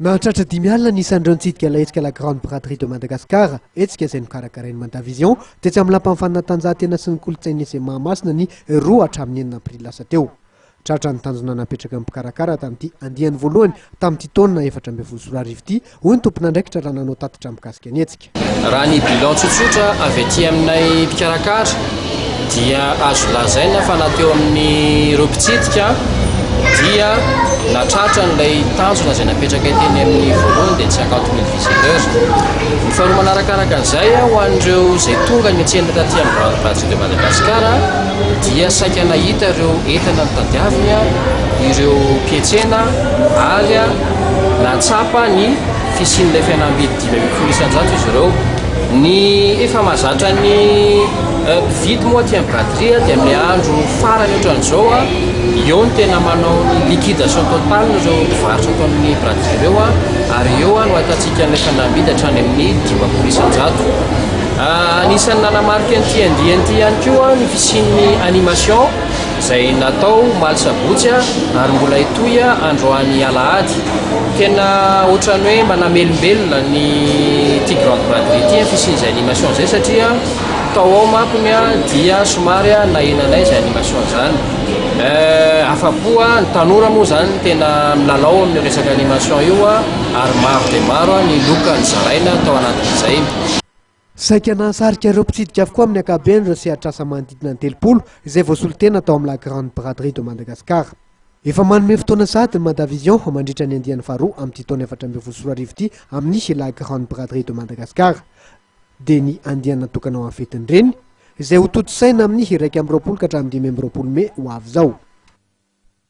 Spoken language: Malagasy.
Mahatratra dimy alina ny isan'ireo nitsidika ilay hetsika La Grande Braderie de Madagascar, hetsika izay nokarakarain'ny Mandavision, tetsy amin'ny Lapan'ny Fanatanjahantena sy ny Kolontsain'ny Lycée Mahamasina ny roa hatramin'ny enina aprily lasa teo. Tratra ny tanjona napetraka ny mpikarakara tamin'ity andiany voalohany tamin'ity taona efatra ambin'ny folo sy roa arivo ity, hoy ny tomponandraikitra raha nanao tatitra mikasika ny hetsika. Raha ny bilan tsotsotra avy aty aminay mpikarakara dia azo lazaina fa na teo amin'ireo mpitsidika dia na tratra an'ilay tanjona izay napetrakay teny amin'ny voalohany dia tsy 50 mille visiteurs. Ny faharoa manarakaraka an'izay ho an'ireo izay tonga niantsena taty amin'ny Rando Brasil de Madagascar dia saika nahita ireo entana notadiaviny ireo mpietsena ary nahatsapa ny fisian'ilay fihenam-bidy. Dimy ambin'ny folo isan-jato izy ireo. Ny efa mahazatra ny mpividy moa aty amin'ny braderie dia amin'ny andro farany ohatran'izao, eo no tena manao ny liquidation totale ireo mpivarotra ato amin'ny braderie ireo ary eo no ahitantsika ny efa namidy hatrany amin'ny dimampolo isan-jato. Anisan'ny nanamarika an'ity andiany ity ihany koa ny fisian'ny animation. izay natao omaly sabotsy ary mbola hitohy androany alahady. Tena ohatran'ny hoe manamelombelona ny ity grande braderie ity ny fisian'izay animation izay satria tao ao manko ny dia somary nahena anay izay animation izany. Afa-po ny tanora moa izany tena milalao amin'io resaka animation io ary maro dia maro ny loka nozaraina tao anatin'izay. Saika nahasarika ireo mpitsidika avokoa amin'ny ankapobeny ireo sehatr'asa manodidina ny telopolo izay voasolotena tao amin'ny La Grande Braderie de Madagascar. Efa manome fotoana sahady ny Madavision mandritra ny andiany faharoa amin'ity taona efatra ambin'ny folo sy roa arivo ity amin'ny La Grande Braderie de Madagascar dia ny andiany natokana ho an'ny fetin'ny Reny izay hotontosaina amin'ny iraika amby roapolo ka hatramin'ny dimy amby roapolo mey ho avy izao.